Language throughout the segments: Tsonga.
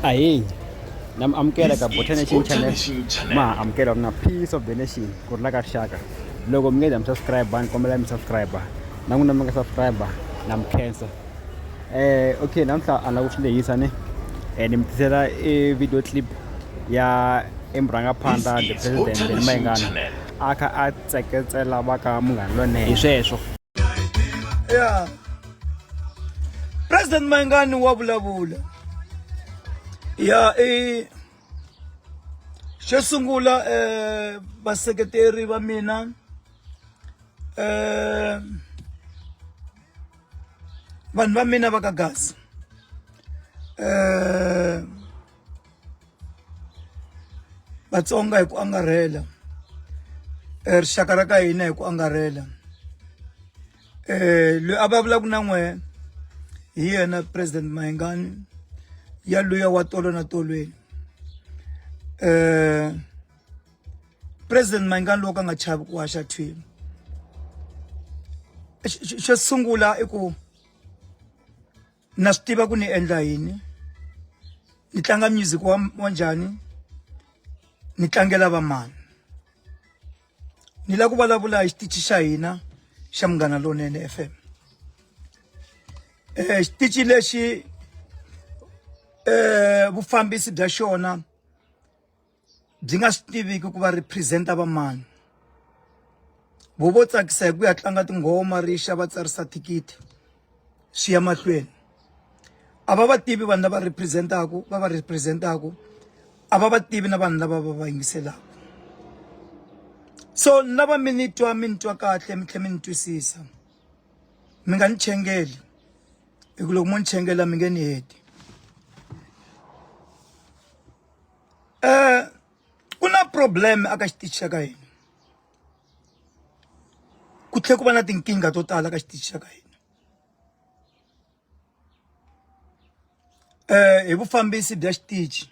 ahinyi na mi amukela ka botha nation channel ma ha amukela ri na peace of the nation ku ri la ka rixaka loko mi nge za mi subscribe ni kombela mi subscribe na n'wina mi nga subscribe na mi khensa eh okay namuntlha a na ku swi lehisa ni eh, ni mi tisela i video clip ya emurhangaphandla the president ni mayingana a kha a tseketsela va ka munghana lonene hi sweswo yeah. president mayingani wa vulavula ya i xo sungula eh vaseketeri va mina eh vanhu va mina va ka gasi eh Vatsonga hi ku angarhela eh, rixaka ra ka hina hi ku angarhela eh loyi a vulavulaka na n'we hi yena president Mayengani ya luya wa tolo na tolweni eh president Mayengani loko a nga chavi ku haxa thwini xo sungula i ku na swi tiva ku ni endla yini ni tlanga music wa wa njhani ni tlangela vamani ni la ku vulavula hi xitichi xa hina xa munghana lonene FM eh xitichi lexi eh vufambisi bya xona byi nga swi tiviki ku va representa va mani vo vo tsakisa hi ku ya tlanga tinghoma ri xa va tsarisa thikithi swi ya mahlweni a va va tivi vanhu lava representaku va va representaku a va va tivi na vanhu lava va va yingiselaka so ni lava mi ni twa mi ni twa kahle mi tlhela mi ni twisisa mi nga ni chengeli hi ku loko mo ni chengela mi nge ni heti um ku na problem a ka xitichi xa ka hina ku tlhela ku va na tinkingha to tala ka xitichi xa ka hina um hi vufambisi bya xitichi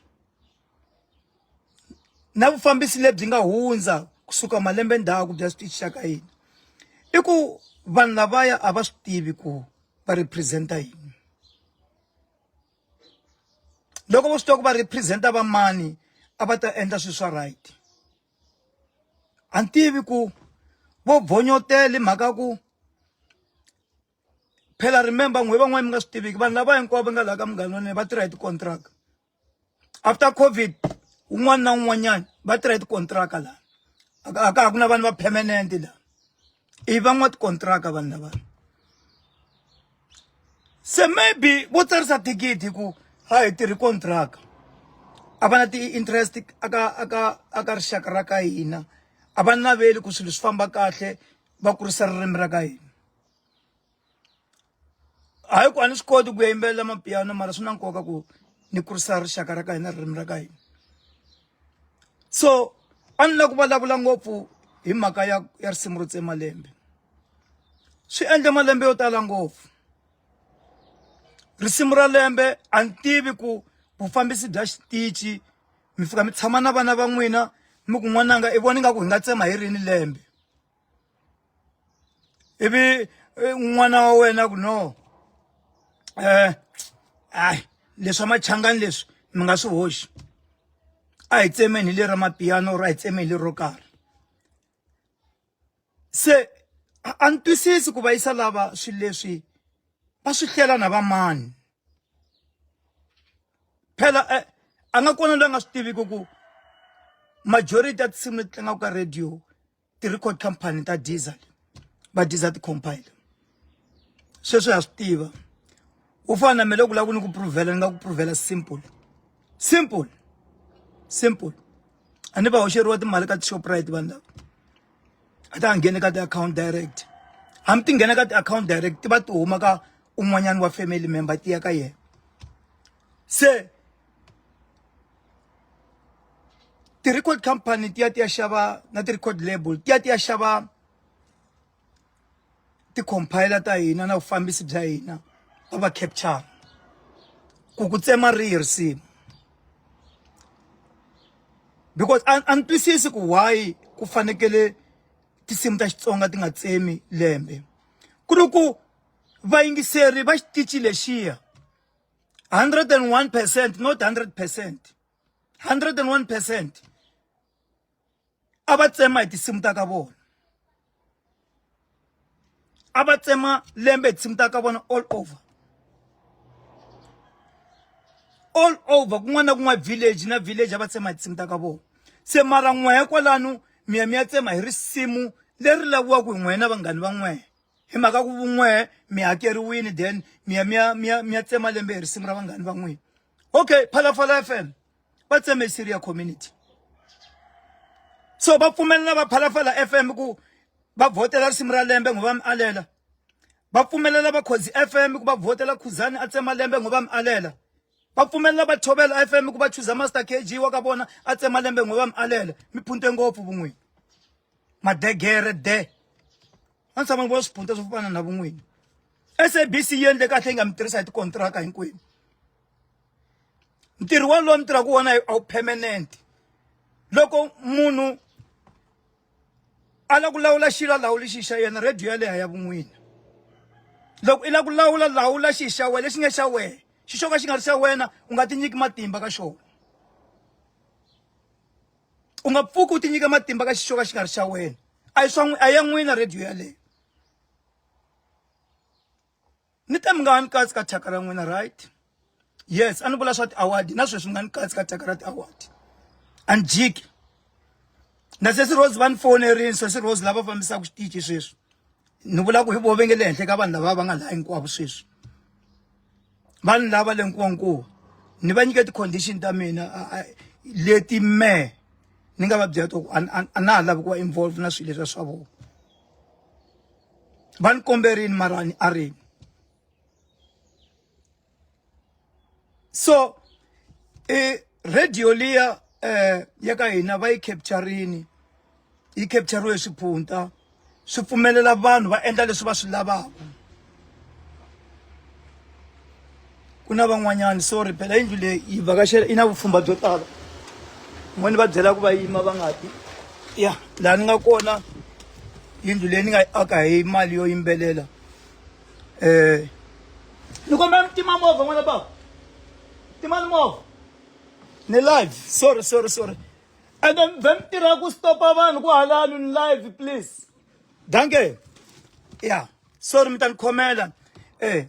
na vufambisi lebyi nga hundza kusuka malembe ndzhaku bya xitichi xa ka hina i ku vanhu lavaya a va swi tivi ku va representa yini loko vo swi tiva ku va representa va mani a va ta endla swilo swa right a ni tivi ku vo bonyotele mhaka ku phela remember n'we van'wana mi nga swi tiviki vanhu lava hinkwavo va nga laha ka munghana wa nene va tirha hi ti-contract after covid un'wana na un'wanyana va tirha hi ti-contract laha a ka ha ku na vanhu va permanent laha i van'wa tikontraka vanhu lava se maybe vo tsarisa thikithi ku ha hi tirhi kontraka a va na ti-interest aka aka aka rixaka ra ka hina a va naveli ku swilo swi famba kahle va kurisa ririmi ra ka hina hayi ku a ni swi koti ku ya yimbelela mapiano mara swi na nkoka ku ni kurisa rixaka ra ka hina ririmi ra ka hina so a ni la ku vulavula ngopfu hi mhaka ya ya risimu ro tsemalembe swi endle malembe yo tala ngopfu risimu ra lembe a ni tivi ku vufambisi bya xitichi mi fika mi tshama na vana va n'wina mi ku n'wananga i vona ingaku hi nga tsema hi rini lembe ivi eh, n'wana wa wena ku no um eh, hayi leswi machangani leswi mi nga swi hoxi a hi tsemeni hi le ra mapiyano or a hi tsemeni hi le ro karhi se a ni twisisi ku va yisa lava swilo leswi va swi hlela na vamani phela eh, a nga kona loyi a nga swi tiviki ku majority ya tinsimu leti tlangaka ka radio ti-record company ta diesel va diesel ti-compile sweswi ha swi tiva u fana na mina loko lava ku ni ku pruvhela ni nga ku pruvhela simple simple simple a ni va hoxeriwa timali ka ti-shoprite vanhu lava a ta nghene ka ti-account direct hambi ti nghena ka ti-account direct ti va ti huma ka un'wanyana wa family member ti ya ka yena se ti-record company ti ya ti ya xava na ti-record label ti ya ti ya xava ti-compiler ta hina na vufambisi bya hina va va capture ku ku tsema rihi risimu because a ni twisisi ku why ku fanekele tinsimu ta xitsonga ti nga tsemi lembe ku ri ku vayingiseri va xitichi lexiya 101% not 100% 101% a va tsema hi tinsimu ta ka vona a va tsema lembe hi tinsimu ta ka vona all over all over kun'wana na kun'wana village na village a va tsema hi tinsimu ta ka vona se mara n'wehe kwalano miya mi ya tsema hi risimu leri laviwaka hi n'wehe na vanghani va n'wehe hi mhaka ku vun'we mi hakeriwini then mi ya mi ya mi ya mi ya tsema lembe hi risimu ra vanghani va n'wina okay phalaphala f m va tseme hi syria community so va pfumelela va phalaphala f m ku va vhotela risimu ra lembe ngo va mi alela va pfumelela vakhozi f m ku va vhotela khuzani a tsema lembe ngo va mi alela va pfumelela va tshovela fm ku va chuza master kg wa ka vona a tsema lembe n'we va mi alela mi phunte ngopfu vun'wini madegere de a ni tshama ni vona swiphunta swo fana na vun'wini sabc yi endle kahle yi nga mi tirhisa hi tikontiraka hinkwenu ntirho wolowo mi tirhaka wona a wu permanent loko munhu a la ku lawula xilo a lawuli xi xa yena radio ya leha ya vun'wini loko i la ku lawula lawula xi xa wena lexi nga xa wena xi xo ka xi nga ri xa wena u nga tinyiki matimba ka xona u nga pfuki u tinyika matimba ka xi xo ka xi nga ri xa wena a yi swa a ya n'wina radio yaleyo ni te mi nga ha ni katsi ka thyaka ra n'wina right yes a ni vula swa ti-award na sweswi mi nga ni katsi ka thyaka ra ti-award a ni jiki na sesi rose va ni fonerini sesi rose lava fambisaka xitichi sweswi ni vula ku hi vo ve nge le henhla ka vanhu lava va nga laha hinkwavo sweswi va ni lava le nkuwankuwa ni va nyike ti-condition ta mina leti me ni nga va byela to a na ha lavi ku va involve na swilo leswi swa vona va ni kombe rini marani a rini so i radio liya um ya ka hina va yi capturini yi capturiwe hi swiphunta swi pfumelela vanhu va endla leswi va swi lavaka ku na van'wanyana sorry phela yindlu leyi yi vhakachela yi na vupfhumba byo tala n'wani va byela ku va yima va nga ti ya laha ni nga kona yindlu leyi ni nga yi aka hi mali yo yimbelela um ni kombela mi tima movha n'wana bava timani movha ni live sorry sorry sorry and then vhe mi tirha ku stopa vanhu ku halano ni live please danke ya sorry mi ta ni khomela um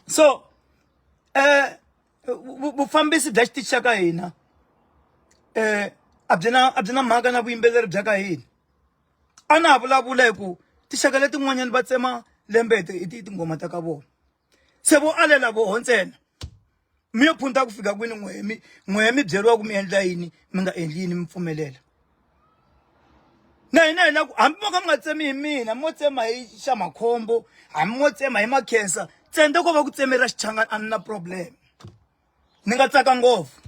so eh vufambisi bya xitichi xa ka hina eh a byi na a byi na mhaka na vuyimbeleri bya ka hina a na ha vulavula hi ku tinxaka letin'wanyani va tsema lembe hi tinghoma ta ka vona se vo alela voho ntsena mi yo phunta ku fika kwini n'wehe mi n'wehe mi byeriwa ku mi endla yini mi nga endli yini mi pfumelela na hina hi la ku hambi mo ka mi nga tsemi hi mina mo tsema hi xa makhombo hambi mo tsema hi makhensa tsende ko va ku tsemera xichangani a ni na problem ni nga tsaka ngopfu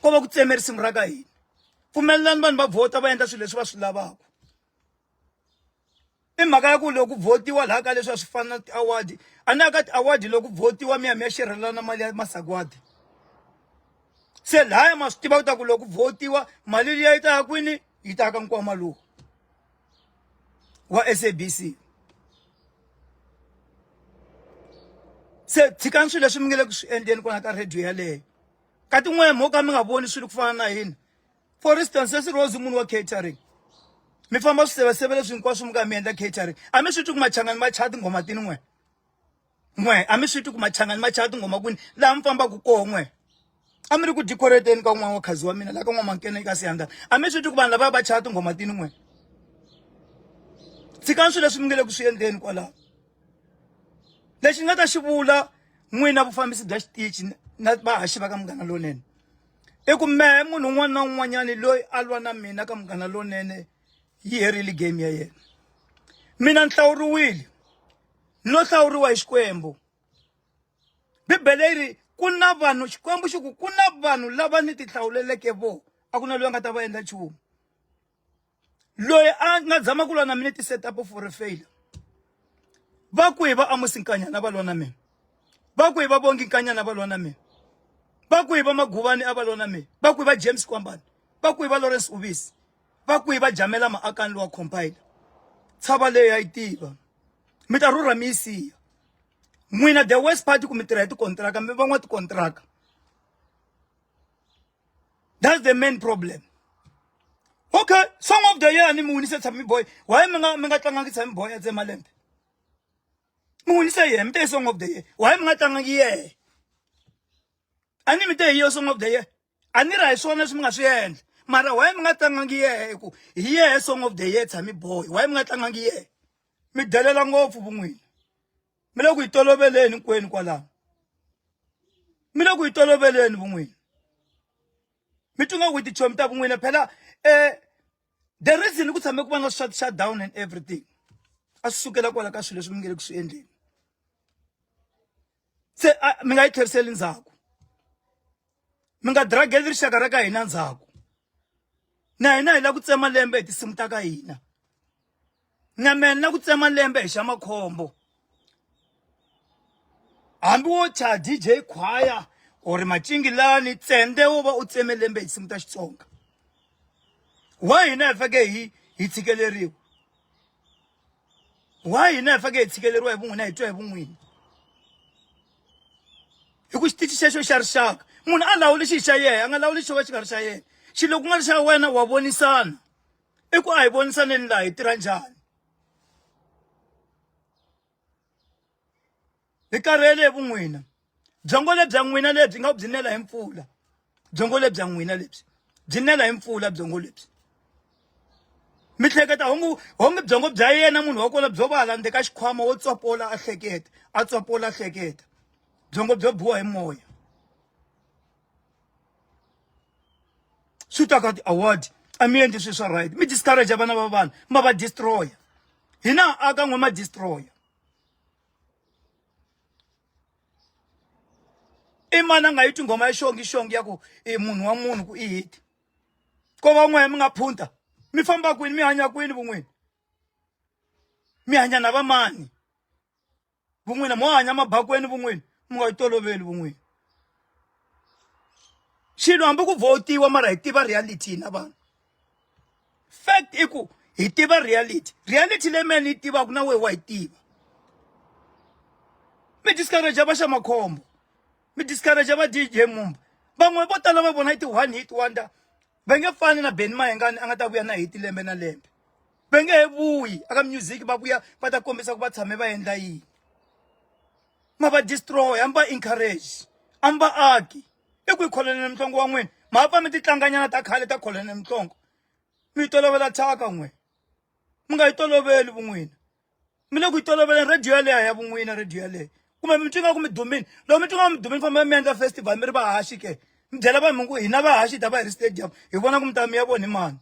ko va ku tsemeri simu ra ka hina pfumelelani vanhu va vhota va endla swilo leswi va swi lavaka i mhaka ya ku loko votiwa laha ka leswi a swi fana na ti-award a na ka ti-award loko votiwa mi ya mi ya xerhelana mali ya masagwadi se laya ma swi tiva ku ta ku loko votiwa mali liya yi ta ya kwini yi ta ya ka nkwama lowu wa sabc se tshikani swilo leswi mi nge le ku swi endleni kona ka radio yaleyo ka tin'wani mo ka mi nga voni swilo ku fana na hina for instance sweswi rose munhu wa catering mi famba swiseveseve leswi hinkwaswo mi ka mi endla catering a mi swi twi ku machangani ma chaya tinghoma tini n'we n'we a mi swi twi ku machangani ma chaya tinghoma kwini laha mi fambaka koho n'we a mi ri ku decorateni ka un'wana wa khazi wa mina laha ka n'wamankena eka siyandana a mi swi twi ku vanhu lava va chaya tinghoma tini n'we tshikani swilo leswi mi nge le ku swi endleni kwalaho lexi ni nga ta xi vula n'wina vufambisi bya xitichi na vahaxi va ka munghana lonene i ku mehe munhu un'wana na un'wanyani loyi a lwa na mina ka munghana lonene yi herile game ya yena mina ni hlawuriwile no hlawuriwa hi xikwembu bibele yi ri ku na vanhu xikwembu xi ku ku na vanhu lava ni ti hlawuleleke vo a ku na loyi a nga ta va endla nchumu loyi a nga zama ku lwa na mina ti set up for a failure va ku hi va amusi nkanyana va lwa na mina va ku hi va vongi nkanyana va lwa na mina va ku hi va maguvani a va lwa na mina va ku hi va james kwambani va ku hi va lawrence uvisi va ku hi va jamela maakani lowa compile tshava leyi ya yi tiva mi ta rhurha mi yi siya n'wina the west party ku mi tirha hi tikontiraka mi van'wa tikontiraka That's the main problem. Okay, song of the year ni muwinise Thami Boy. Why mi nga mi nga tlangangi Thami Boy at Zemalembe? Muwinise yena, mi te song of the year. Why mi nga tlangangi yena? Ani mi te hiyo song of the year. Ani ra hi swona leswi mi nga swi endla. Mara why mi nga tlangangi yena ku hi yena song of the year Thami Boy. Why mi nga tlangangi yena? Mi delela ngopfu vun'wini. mi le ku yi toloveleni hinkwenu kwalano mi le ku yi toloveleni vun'wini mi twi nga ku tichomi ta vun'wini phela um the reason ku tshame ku va na swa ti-shut down and everything a swi sukela kwala ka swilo leswi mi nge le ku swi endleni se mi nga yi tlheriseli ndzhaku mi nga drageli rixaka ra ka hina ndzhaku na hina hi la ku tsema lembe hi tinsimu ta ka hina na mena na ku tsema lembe hi xa makhombo hambi wo cha dj khwaya or macingilani tsende wo va u tseme lembe hi tinsimu ta xitsonga wa hina hi fake hi hi tshikeleriwa why hina hi fake hi tshikeleriwa hi vun'wina hi twa hi vun'wini hi ku xitichi xexo xa rixaka munhu a lawuli xi xa yena a nga lawuli xo va xi nga ri xa yena xilo ku nga ri xa wena wa vonisana i ku a hi vonisaneni laha hi tirha njhani hi karhele hi vun'wina byongo lebya n'wina lebyi nga byi nela hi mpfula byongo lebya n'wina lebyi byi nela hi mpfula byongo lebyi mi hleketa hongu honge byongo bya yena munhu wa kona byo vala ndzi ka xikhwama wo tswapola a hleketa a tswapola a hleketa byongo byo biwa hi moya swi ta ka ti-award a mi endli swi swa right mi discourage vana va vanhu ma va destroya hina aka n'we ma destroya i mani a nga yi tinghoma ya xongi xongi ya ku i munhu wa munhu ku i hiti ko van'waya mi nga phunta mi famba kwini mi hanya kwini vun'wini mi hanya na vamani vun'wina mo hanya mabakweni vun'wini mi nga yi toloveli vun'wini xilo hambi ku votiwa mara hi tiva reality na vanhu fact i ku hi tiva reality reality leyi mina ni yi tivaka na wehe wa yi tiva mi discourage va xa makhombo mi discourage va dj mumba van'we vo tala va vona yi ti-one hit wonder va nge fani na beni mahengani a nga ta vuya na hiti lembe na lembe va nge he vuyi aka music va vuya va ta kombisa ku va tshame va endla yini ma va destroy a mi va encourage a mi va aki i ku yi kholonele muhlongo wa n'wina ma pfa mi titlanganyana ta khale ta kholonele muhlongo mi yi tolovela thyaka n'wina mi nga yi toloveli vun'wina mi le ku yi toloveleni radio yaleyo ya vun'wina radio yaleyo kumbe mi twi nga ku mi dumini loko mi twi nga ku mi dumini famba mi endla festival mi ri vahaxi ke mi byela vanhu mi ku hina vahaxi hi ta va hi ri stadium hi vona ku mi ta mi ya voni mani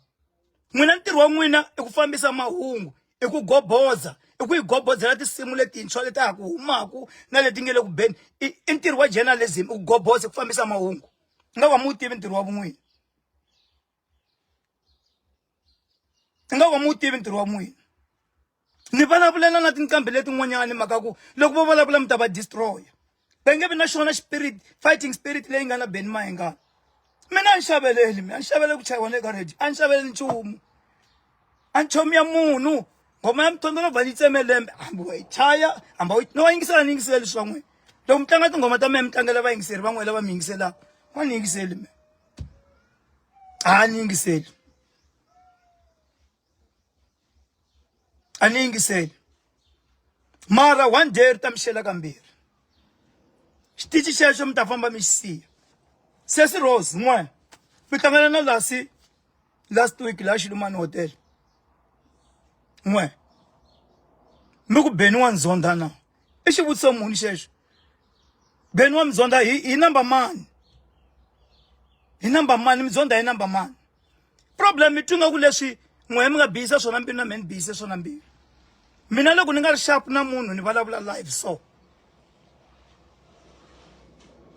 n'wina ntirho wa n'wina i ku fambisa mahungu i ku goboza i ku yi gobodzela tinsimu letintshwa leti ha ku humaku na leti nge le ku beni i i ntirho wa journalism i ku goboza i ku fambisa mahungu i nga va mu wu tivi ntirho wa vun'wini i nga va mu wu tivi ntirho wa n'wina ni vulavulela na tinqambi letin'wanyani mhaka ku loko vo vulavula mi ta va destroya va nge vi na xona spirit fighting spirit leyi nga na beni mahengana mina a ni xaveleli mi a ni xavele ku chayiwa le ka radio a ni xaveleli nchumu a ni chomi ya munhu ngoma ya mithondzo no va ni tseme lembe hambi wa yi chaya hambi wa no va yingisela ni yingisela leswi van'wini loko mi tlanga tinghoma ta mina mi tlangela vayingiseri van'wini lava mi yingiselaka wa ni yingiseli mina a ni yingiseli a ni yingiseli mara one day ri ta mi xela kambirhi xitichi xexo mi ta famba mi xi siya sesi rose n'wana mi hlangana na lasi last week laha xilumani hotel n'we mi ku beni wa ndzondha na i xivutiso muni xexo beni wa mi dzondha hi hi number mani hi number mani mi dzondha hi number mani problem twi nga ku leswi n'wehe mi nga bihisa swona mbilu na mehe ni bihise swona mbilu mina loko ni nga ri sharp na munhu ni vulavula live so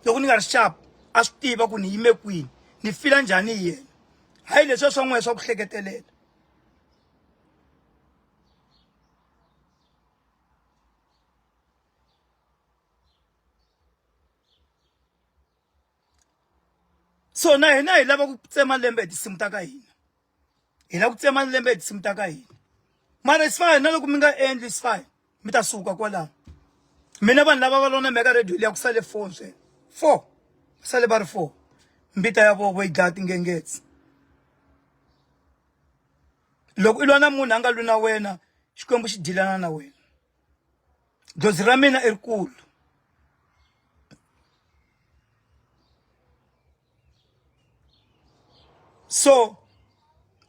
loko ni nga ri sharp a swi tiva ku ni yime kwini ni fila njhani hi yena hayi leswiya swa n'wehe swa ku hleketelela so na hina hi lava ku tsema lembe hi tinsimu ta ka hina hi lava ku tsema lembe hi tinsimu ta ka hina mara it's fine na loko mi nga endli it's fine mi ta suka kwalaho mina vanhu lava va lona meka radio liya ku sale four ntsena four ku sale va ri four mbita ya vovo yi dlaya tingengetsi loko i lwa na munhu a nga lwi na wena xikwembu xi dilana na wena dzozi ra mina i rikulu so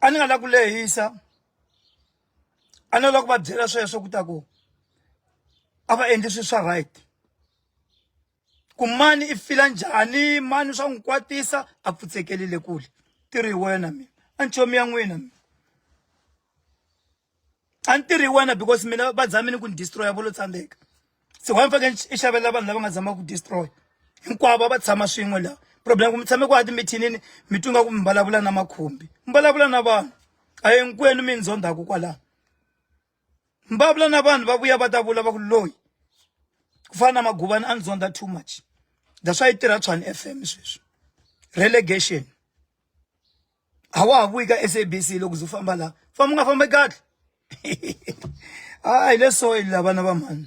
a ni nga lavi ku lehisa a ni lava ku va byela sweswo ku ta ku a va endli swilo swa right ku mani i fila njhani mani swa n'wi kwatisa a pfutsekelile kule ti ri wena mina a nchomi ya n'wina mina a ni tirhi wena because mina va zame ni ku ni destroya vo lo tsandzeka se wa ni fake i xavela vanhu lava nga zama ku destroy hinkwavo va tshama swin'we laha problem ku mi tshame ku a timithinini mi twi nga ku mi vulavula na makhumbi mi vulavula na vanhu a hinkwenu mi ndzondhaku kwalaho mi vulavula na vanhu va vuya va ta vula va ku loyi ku fana na maguvani a ni dzondha too much that's why yi tirha tshwani f m sweswi relegation a wa ha vuyi ka sabc loko zo famba la famba u nga fambi kahle hayi le soil la vana va mhani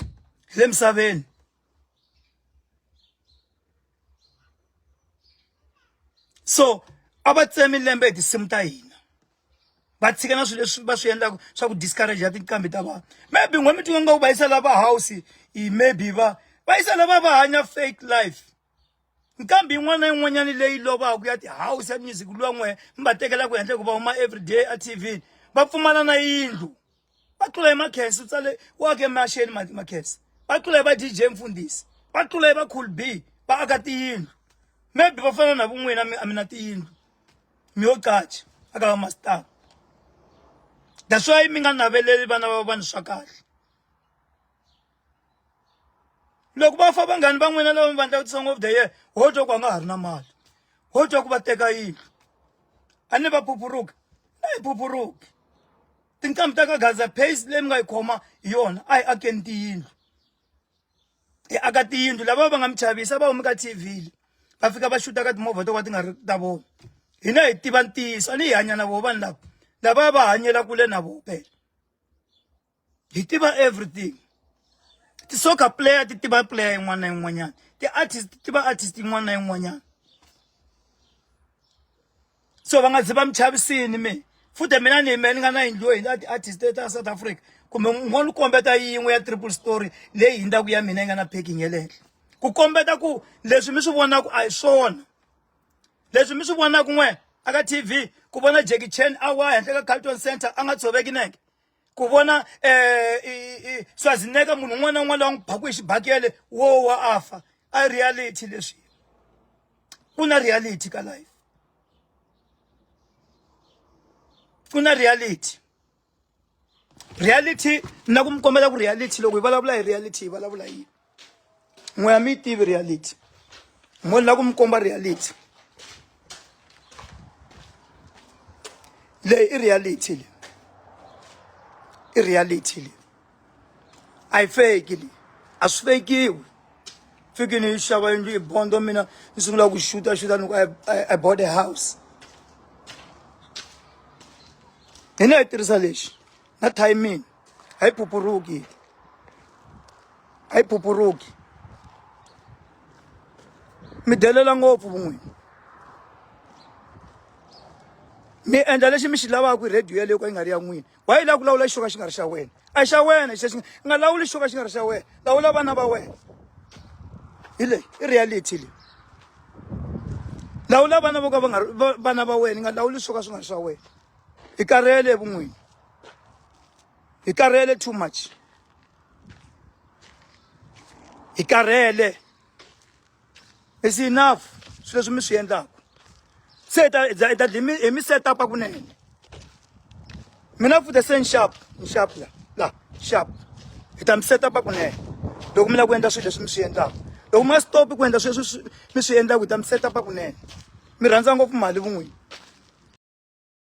hi le misaveni so a va tsemi lembe hi tinsimu ta hina va tshika na swilo leswi va swi endlaka swa ku discourage ya tinqambi ta vanhu maybe n'we mi tinga nga ku va yisa lava house maybe va va yisa lava va hanya fake life nkambi yin'wana na yin'wanyana leyi lovaka ya ti-house ya music luwa n'we mi va tekelaka henhla hikuva huma everyday a tv va pfumala na yindlu va tlula hi makhensi u tsale u ake maxeni makhensi va tlula hi va dj mfundhisi va tlula hi va cool b va aka tiyindlu maybe va fana na vun'wina mi a mi na tiyindlu mi yo qacha aka va masitava that's why mi nga naveleli vana va vanhu swa kahle loko va fa vanghani va n'wina lava mi vandlaka ti-song of the year ho twa ku a nga ha ri na mali ho twa ku va teka yini a ni va phuphuruki a yi phuphuruki tinqambi ta ka gaza pace leyi mi nga yi khoma hi yona a yi akeni tiyindlu hi aka tiyindlu lava va nga mi chavisa va humi ka tv le va fika va xuta ka timovha to ka ti nga ri ta vona hina hi tiva ntiyiso a ni hi hanya na vona vanhu lava lava va hanyela kule na vona phela hi tiva everything ti-soccer player ti tiva player yin'wana na yin'wanyana ti-artist ti tiva artist yin'wana na yin'wanyana so va nga zi va mi chavisini mi futhi mina ni yime ni nga na yindlu hi na ti-artist ta south africa kumbe ngo ni kombeta yin'we ya triple story leyi hindzaku ya mina yi nga na packing ya le henhla ku kombeta ku leswi mi swi vonaku a hi swona leswi mi swi vonaku n'we aka tv ku vona jackie chan a wa henhla ka carlton center a nga tshoveki neke ku vona um swazineka munhu un'wana na un'wana lowa n'wi baku hi xibakele wo wa a fa a reality leswi ku na reality ka life ku na reality reality na ku mi kombela ku reality loko hi vulavula hi reality hi vulavula yini n'we ya mi yi tivi reality mo ni lava ku mi komba reality leyi i reality leyi i reality leyi a yi feki leyi a swi fekiwi fiki ni yi xava yindlu yi bondo mina ni sungula ku xuta xuta ni ku i bought a house hina hi tirhisa lexi na timing haipupuruki haipupuruki mi delela ngopfu vun'wini mi endla lexi mi xi lavaka hi radio yaleyo ka yi nga ri ya n'wini wa yi lava ku lawula xi xo ka xi nga ri xa wena a xa wena xi xi nga lawuli xi xo ka xi nga ri xa wena lawula vana va wena hi leyi i reality leyi lawula vana vo ka va nga vana va wena yi nga lawuli swo ka swi nga ri swa wena hi karhele vun'wini hi karhele too much hi karhele is enough swilo leswi mi swi endlaka se hi ta hi ta dlimi hi mi set up kunene mina futhi se nxap nxap la la xap hi ta mi set up kunene loko mi lava ku endla swilo leswi mi swi endlaka loko mi nga stop ku endla swilo leswi mi swi endlaka hi ta mi set up kunene mi rhandza ngopfu mali vun'wini